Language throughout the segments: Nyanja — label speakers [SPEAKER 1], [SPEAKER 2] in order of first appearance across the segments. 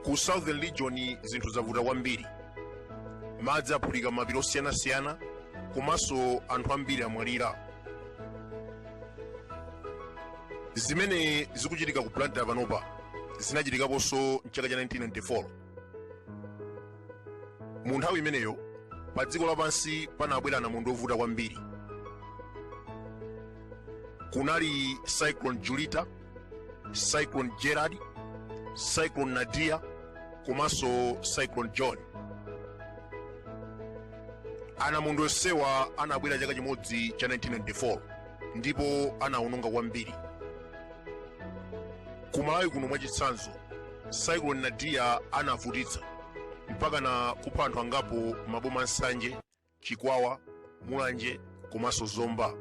[SPEAKER 1] ku southern region zinthu zavuta kwambiri madzi aphulika m'mapiri osiyanasiyana komanso anthu ambiri amwalira zimene zikuchitika ku blantyre panopa zinachitikaponso mchaka cha 1994 mu nthawi imeneyo pa dziko lapansi panabwera anamondwe ovuta kwambiri kunali cyclone julita cyclone gerard cyclone nadia komanso cyclone john anamondwe onsewa anabwera chaka chimodzi cha 1994 ndipo anawononga kwambiri kumalawi kuno mwachitsanzo cyclone nadia anavutitsa mpaka na kupha anthu angapo m'maboma a nsanje chikwawa mulanje komanso zomba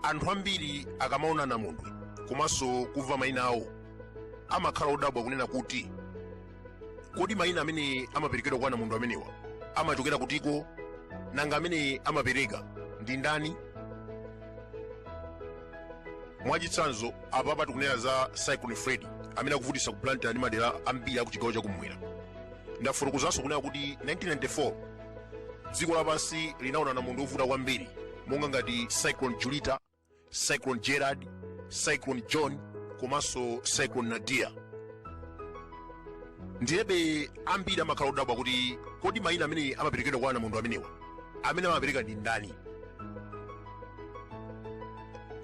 [SPEAKER 1] anthu ambiri akamaona anamondwe komanso kumva mayina awo amakhala odabwa kunena kuti kodi mayina amene amaperekedwa kwa anamondwe amenewa amachokera kutiko nanga amene amapereka ndi ndani mwachitsanzo apapa tikunena za cyclone freddy amene akuvutitsa ku blantyre ndi madera ambiri aku chigawo chakumwera ndafotokozanso kunena kuti 1994 dziko lapansi linaona anamondwe ovuta kwambiri monga ngati cyclone julita cyclone gerard cyclone john komanso cyclone nadia ndiyebe ambiri amakhala odabwa kuti kodi mayina amene amaperekedwa kwa anamondwe amenewa amene amapereka ndi ndani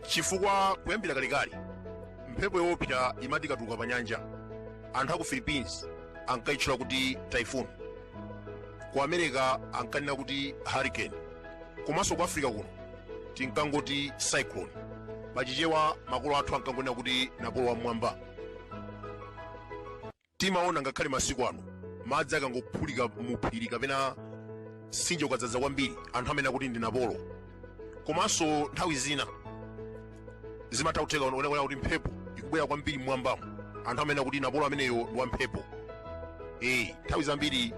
[SPEAKER 1] chifukwa kuyambira kalekale mphepo yoopsa imati ikatuluka pa nyanja anthu aku philippines ankayitchula kuti typhoon ku america ankanena kuti hurricane komanso ku africa kuno tinkangoti cyclone pachichewa makolo athu ankangonena kuti napolo wam'mwamba timaona ngakhale masiku ano madzi akangophulika muphiri kapena mtsinje ukadzadza kwambiri anthu amanena kuti ndi napolo komanso nthawi zina zimatha kutheka kunena kuti mphepo ikubwera kwambiri mmwambamo anthu amanena kuti napolo ameneyo ndi wamphepo ee nthawi zambiri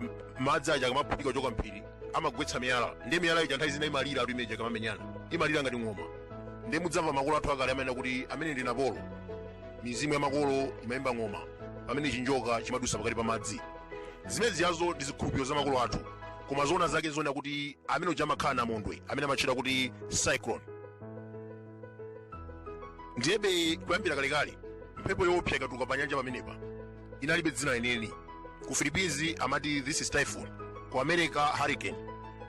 [SPEAKER 1] m- madzi aja akamaphulika kuchoka mphiri amagwetsa miyala ndiye miyala ija nthawi zina imalira nthawi imene ija ikamamenyana imalira ngati ng'oma ndiye mudzamva makolo athu akale amanena kuti amene ndi napolo mizimu ya makolo imayimba ng'oma pamene chinjoka chimadutsa pakati pa madzi zimene zijazo ndi zikhulupiriro za makolo athu koma zoona zake nzonena kuti amene uja amakhala namondwe amene amatchedwa kuti cyclone ndiyebe kuyambira kalekale mphepo yoopsa ikatuluka pa nyanja pamenepa inalibe dzina lenileni ku philippines amati this is typhoon ku america hurricane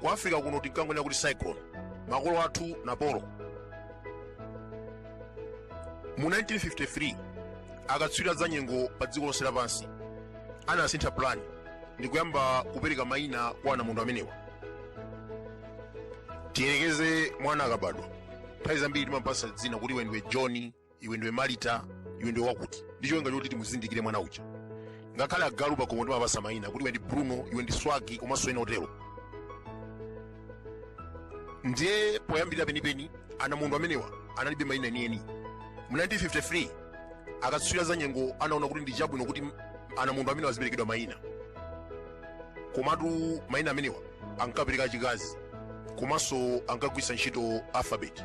[SPEAKER 1] ku africa kuno tinkangonena kuti cyclone makolo athu napolo mu 1953 akatswiri a zanyengo pa dziko lonse lapansi anasintha plan ndi kuyamba kupereka mayina kwa anamondwe amenewa tiyerekeze mwana akabadwa nthawi zambiri timampasa dzina kuti iwe ndiwe john iwe ndiwe malita iwe ndiwe wakuti ndi cholinga choti timuzindikire mwana uja ngakhale agalu pakomo timapasa mayina kuti iwe ndi bruno iwe ndi swagi komanso ena otero ndiye poyambirira penipeni anamondwe amenewa analibe mayina enieni mu 1953 akatswiri a za nyengo anaona kuti ndi chabwino kuti anamondwe amenewa aziperekedwa mayina komatu mayina amenewa ankapereka achikazi komanso ankagwiritsa ntchito alphabet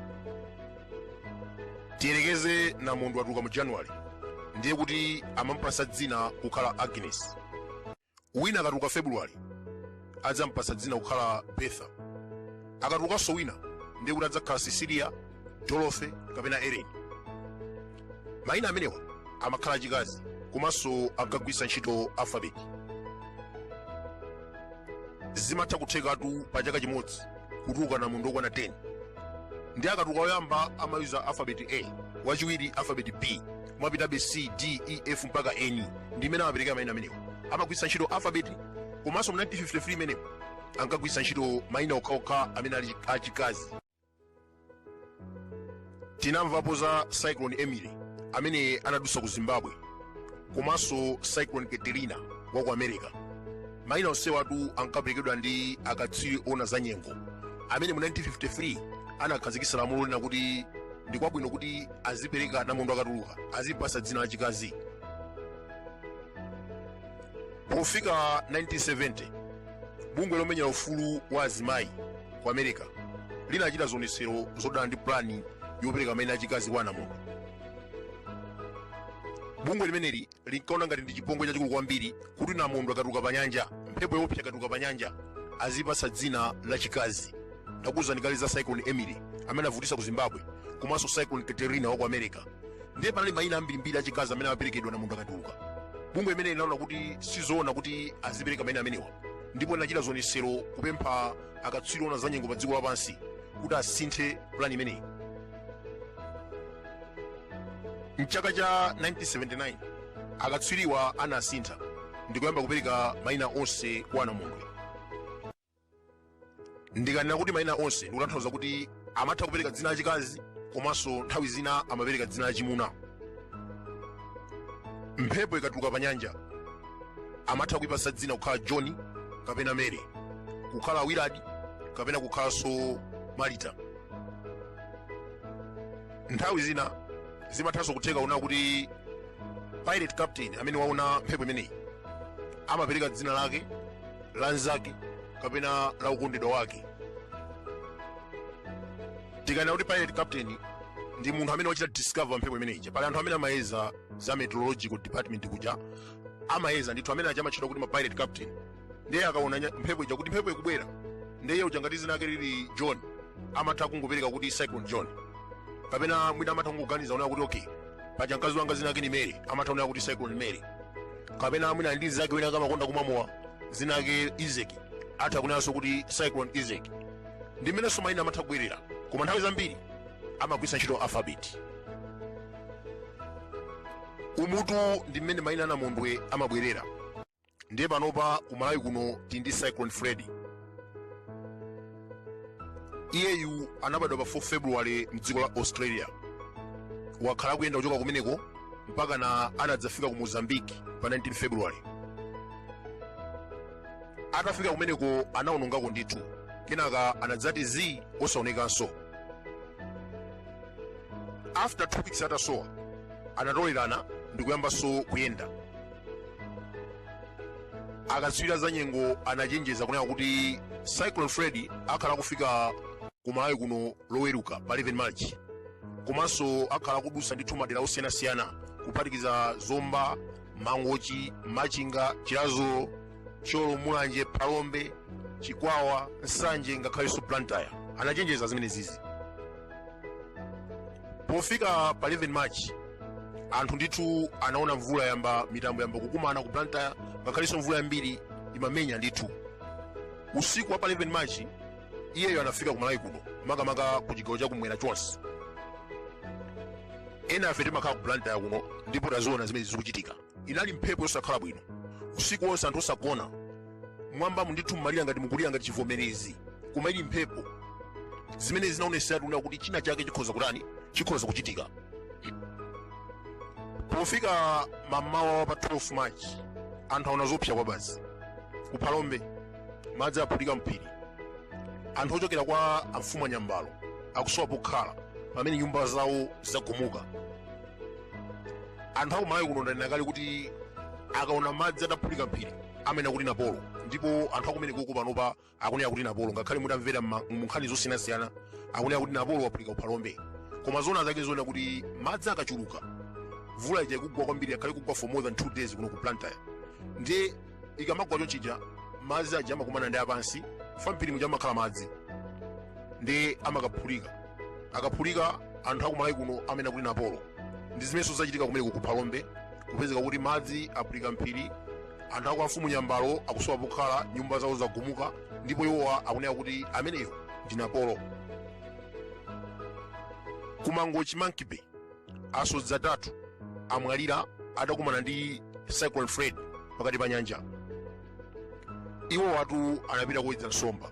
[SPEAKER 1] tiyerekeze namondwe atuluka mu january ndiye kuti amampasa dzina kukhala agnes wina akatuluka february adzampasa dzina kukhala betha akatulukanso wina ndiye kuti adzakhala cecilia dorothy kapena ellen Mayina amenewa amakhala achikazi komanso ankagwiritsa ntchito alphabet. Zimatha kuthekatu pa chaka chimodzi kutuluka anamondwe okwana 10 ndiye akatuluka woyamba amayuza alphabet A, wachiwiri alphabet B, kumapitabe C, D, E, F mpaka end ndi mmene amaperekera mayina amenewa. Amagwiritsa ntchito alphabet komanso mu 1953 imeneyo ankagwiritsa ntchito mayina okhaokha amene ali achikazi. tinamvapo za cyclone emily amene anadutsa ku zimbabwe komanso cyclone katrina wa ku america mayina onsewatu ankaperekedwa ndi akatswiri oona za nyengo amene mu 1953 anakhazikitsa lamulo lonena kuti ndi kwabwino kuti azipereka namondwe akatuluka azimpasa dzina lachikazi pofika 1970 bungwe lomenyera ufulu wa azimayi ku america linachita zionetsero zodana ndi pulani yopereka maina achikazi kwa anamondwe bungwe limeneli linkaona ngati ndi chipongwe chachikulu kwambiri kuti namondwe akatuluka pa nyanja mphepo yoopsa ikatuluka pa nyanja azimpatsa dzina lachikazi ndakuwuzani kale za cyclone emily amene anavutitsa ku zimbabwe komanso cyclone katrina wa ku america ndiye panali maina ambirimbiri achikazi amene amaperekedwa namondwe akatuluka bungwe limeneli linaona kuti sizoona kuti azipereka maina amenewa ndipo linachita zionetsero kupempha akatswiri oona zanyengo pa dziko lapansi kuti asinthe pulani imeneyi mchaka cha 1979 akatswiriwa anasintha ndikuyamba kupereka maina onse kwa anamondwe ndikanena kuti mayina onse ndikutanthauza kuti amatha kupereka dzina lachikazi komanso nthawi zina amapereka dzina lachimuna mphepo ikatuluka pa nyanja amatha kuipasa dzina kukhala john kapena mary kukhala willard kapena kukhalanso marita nthawi zina zimathanso kutheka kunena kuti pirate captain amene waona mphepo imeneyi amapereka dzina lake la nzake kapena la wokondedwa wake tikanena kuti pirate captain ndi munthu amene wachita discover mphepo imene ija pali anthu amene amayeza za meteorological department kuja amayeza ndithu amene aja amatchedwa kuti ma pirate captain ndiye akaona nya- mphepo ija kuti mphepo ikubwera ndiye uja ngati dzina lake lili john amatha kungopereka kuti cyclone john kapena mwina amatha kungoganiza kunena kuti okay paja mkazi wanga dzina lake ni mary amatha kunena kuti cyclone mary kapena mwina ali ndi nzake wina wake amakonda kumwa mowa dzina lake isaac atha kunenanso kuti cyclone isaac ndi mmenenso mayina amatha kubwerera koma nthawi zambiri amagwiritsa ntchito alphabet umutu ndi mmene mayina anamondwe amabwerera ndiye panopa kumalawi kuno tili ndi cyclone freddy iyeyu anabadwa pa 4 february mdziko la australia wakhala akuyenda kuchoka kumeneko mpakana anadzafika ku mozambique pa 19 february atafika kumeneko anaonongako ndithu kenaka anadzati zii osaonekanso after two weeks atasowa anatolerana ndikuyambanso kuyenda akatswiri a zanyengo anachenjeza kunena kuti cyclone freddy akhala akufika ku malawi kuno loweruka pa 11 march komanso akhala akudutsa ndithu madera osiyanasiyana kuphatikiza zomba mangochi machinga chiradzulu thyolo mulanje phalombe chikwawa nsanje ngakhalenso blantyre anachenjeza zimenezizi pofika pa 11 march anthu ndithu anaona mvula yamba mitambo yamba kukumana ku blantyre ngakhalenso mvula yambiri imamenya ndithu usiku wa pa 11 march iyeyo anafika ku malawi kuno makamaka ku chigawo chakumwera chonse ena afe timakhala ku blantyre kuno ndipo taziona zimene zikuchitika inali mphepo yosakhala bwino usiku wonse anthu osagona mwambamu ndithu mmalira ngati mukulira ngati chivomerezi koma ili mphepo zimene zinaoneseratu kunena kuti china chake chikhoza kutani chikhoza kuchitika pofika mamawa wa pa 12 march anthu aona zoopsa kwabasi ku phalombe madzi aphulika mphiri anthu ochokera kwa amfumu anyambalo akusowa pokhala pamene nyumba zawo zagumuka anthu akumalawi kuno ndanena kale kuti akaona madzi ataphulika mphiri amanena kuti napolo ndipo anthu akumeneko ku panopa akunena kuti napolo ngakhale mutamvera mma- munkhani zosiyanasiyana akunena kuti napolo waphulika kuphalombe koma zoona zake ndi zonena kuti madzi akachuluka mvula ija ikugwa kwambiri akhale kugwa for more than two days kuno ku blantyre ndiye ikamagwa choncho ija madzi aja amakumana ndi apansi apa mphiri muja amakhala madzi ndiye amakaphulika akaphulika anthu akumalawi kuno amanena kuti napolo ndi zimenenso zachitika kumeneko ku phalombe kupezeka kuti madzi aphulika mphiri anthu akwa mfumu nyambalo akusowa pokhala nyumba zawo zagumuka ndipo iwowa akunena kuti ameneyo ndi napolo kumangochi monkey bay asodzi atatu amwalira adakumana ndi cyclone freddy pakati pa nyanja iwowatu anapita kuwedza nsomba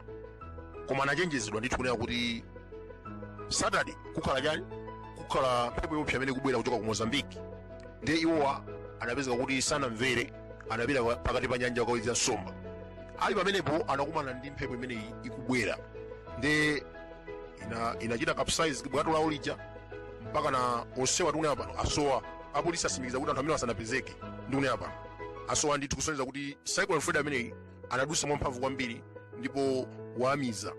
[SPEAKER 1] koma anachenjezedwa ndithu kunena kuti saturday kukhala chani kukhala mphepo yoopsa imene ikubwera kuchoka ku mozambique ndiye iwowa anapezeka kuti sanamvere anapita pa- pakati pa nyanja kukawedza nsomba ali pamenepo anakumana ndi mphepo imeneyi ikubwera ndiye inachita capsize bwato lawo lija mpakana onsewa tikunena pano asowa apolisi atsimikiza kuti anthu amenewa sanapezeke ndikunena pano asowa ndithu kusonyeza kuti cyclone freddy ameneyi anadutsa mwamphamvu kwambiri ndipo wawamiza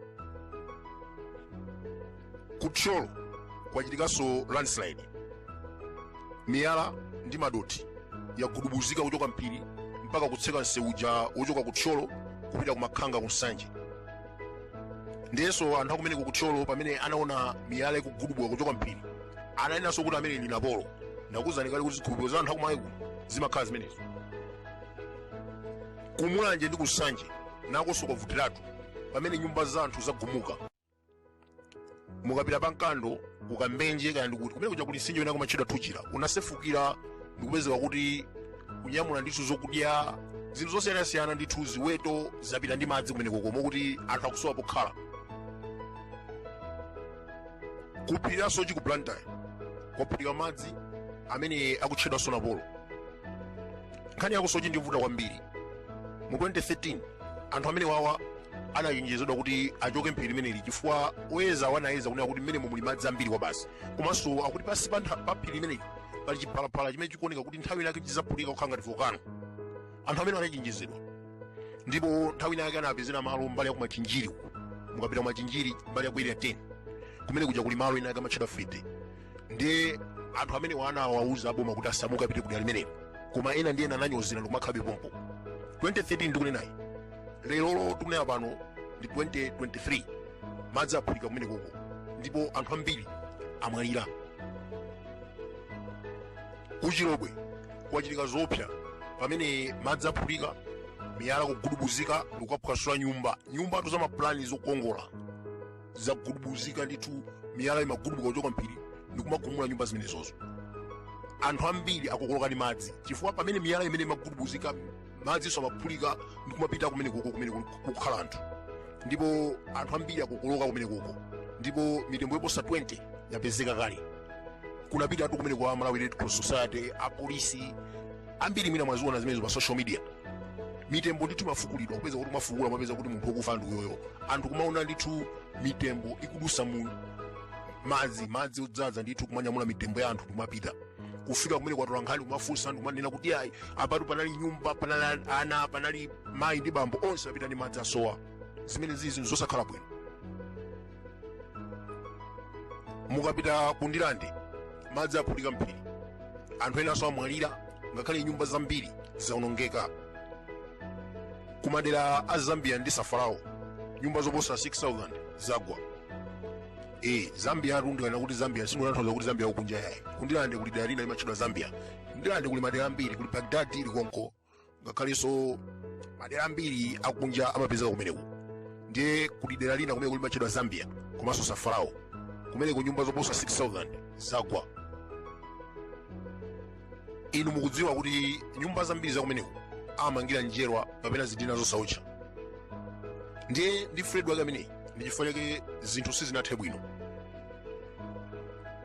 [SPEAKER 1] kuthyolo kwachitikanso landslide miyala ndi madothi yagudubuzika kuchoka mphiri mpaka kutseka mseu uja wochoka kuthyolo kupita kumakhanga ku nsanje ndiyenso anthu akumeneko ku thyolo pamene anaona miyala ikugudubuka kuchoka mphiri ananenanso kuti ameneyu ndi napolo ndakuuzani kale kuti zikhulupiriro za anthu akumalawi kuno zimakhala zimenezo kumulanje ndi kunsanje nakonso kwavutiratu pamene nyumba za anthu zagumuka mukapita pa mkando kukambenje kaya ndikuti kumenekuja kuli mtsinje winawake umatchedwa thuchira unasefukira nkupezeka kuti kunyamula ndithu zokudya zinthu zosiyanasiyana ndithu ziweto zapita ndi madzi kumeneko moti anthu akusowa pokhala kuphiri la soche ku blantyre kwaphulika madzi amene akutchedwanso napolo nkhani yakusoche ndi yovuta kwambiri mu 2013 anthu amenewawa anachenjezedwa kuti achoke mphiri limeneli chifukwa oyezawa anayeza kunena kuti mmenemo muli madzi ambiri kwabasi komanso akuti pansi pa ntha- pa phiri limeneli pali chiphalaphala chimene chikuoneka kuti nthawi inake chidzaphulika kukhala ngati volcano anthu amenewa anachenjezedwa ndipo nthawi inayake anawapezera malo mbali ya kumachinjiri uku mukapita kumachinjiri mbali ya ku area 10 kumenekuja kuli malo enaake amatchedwa fete ndiye anthu amenewa anawauza aboma kuti asamuke apite kudera limenelo koma ena ndi ena ananyozera ndikumakhabe pompo 2013 ndikunenayi lerolo tikunena pano ndi 2023 madzi aphulika kumenekoko ndipo anthu ambiri amwalira kuchilobwe kwachitika zoopsa pamene madzi aphulika miyala kugudubuzika ndikukaphwasula nyumba nyumbatu za mapulani zokongola zagudubuzika ndithu miyala imagudubuka kuchoka m'phiri ndikumagumula nyumba zimenezozo anthu ambiri akokoloka ndi madzi chifukwa pamene miyala imeneyi imagudubuzika madzi nso amaphulika ndikumapita kumenekoko kumene kukukhala anthu ndipo anthu ambiri akokoloka kumenekoko ndipo mitembo yoposa 20 yapezeka kale kunapitatu kumeneku a malawi red cross society apolisi ambiri mwina mwaziona zimenezo pa social media mitembo ndithu imafukulidwa kupeza kuti amafukula amapeza kuti munthu wokufa ndi uyoyo anthu kumaona ndithu mitembo ikudutsa mu madzi madzi odzadza ndithu kumanyamula mitembo ya anthu kumapita kufika kumeneku atolankhani kumafunsa anthu kumanena kuti ayi apatu panali nyumba panali ana panali mayi ndi bambo onse apita ndi madzi asowa zimenezizi nzosakhala bwino mukapita ku ndilande madzi aphulika m'phiri anthu enanso amwalira ngakhale nyumba zambiri zaonongeka ku madera a zambia ndi safarao nyumba zoposa 6000 zagwa e zambiatu ndikanena kuti zambia sindikutanthauza kuti zambia yakunja yayi kundilande kuli dera lina limatchedwa zambia ndilande kuli madera ambiri kuli bagdad ili konko ngakhalenso madera ambiri akunja amapezeka kumeneku ndiye kuli dera lina kumeneku limatchedwa zambia komanso safarao kumeneko nyumba zoposa 6000 zagwa inu mukudziwa kuti nyumba zambiri zakumeneko amamangira njerwa kapena zidina zosawotcha ndiye ndi freddy wake ameneyi ndi chifukwa chake zinthu sizinathe bwino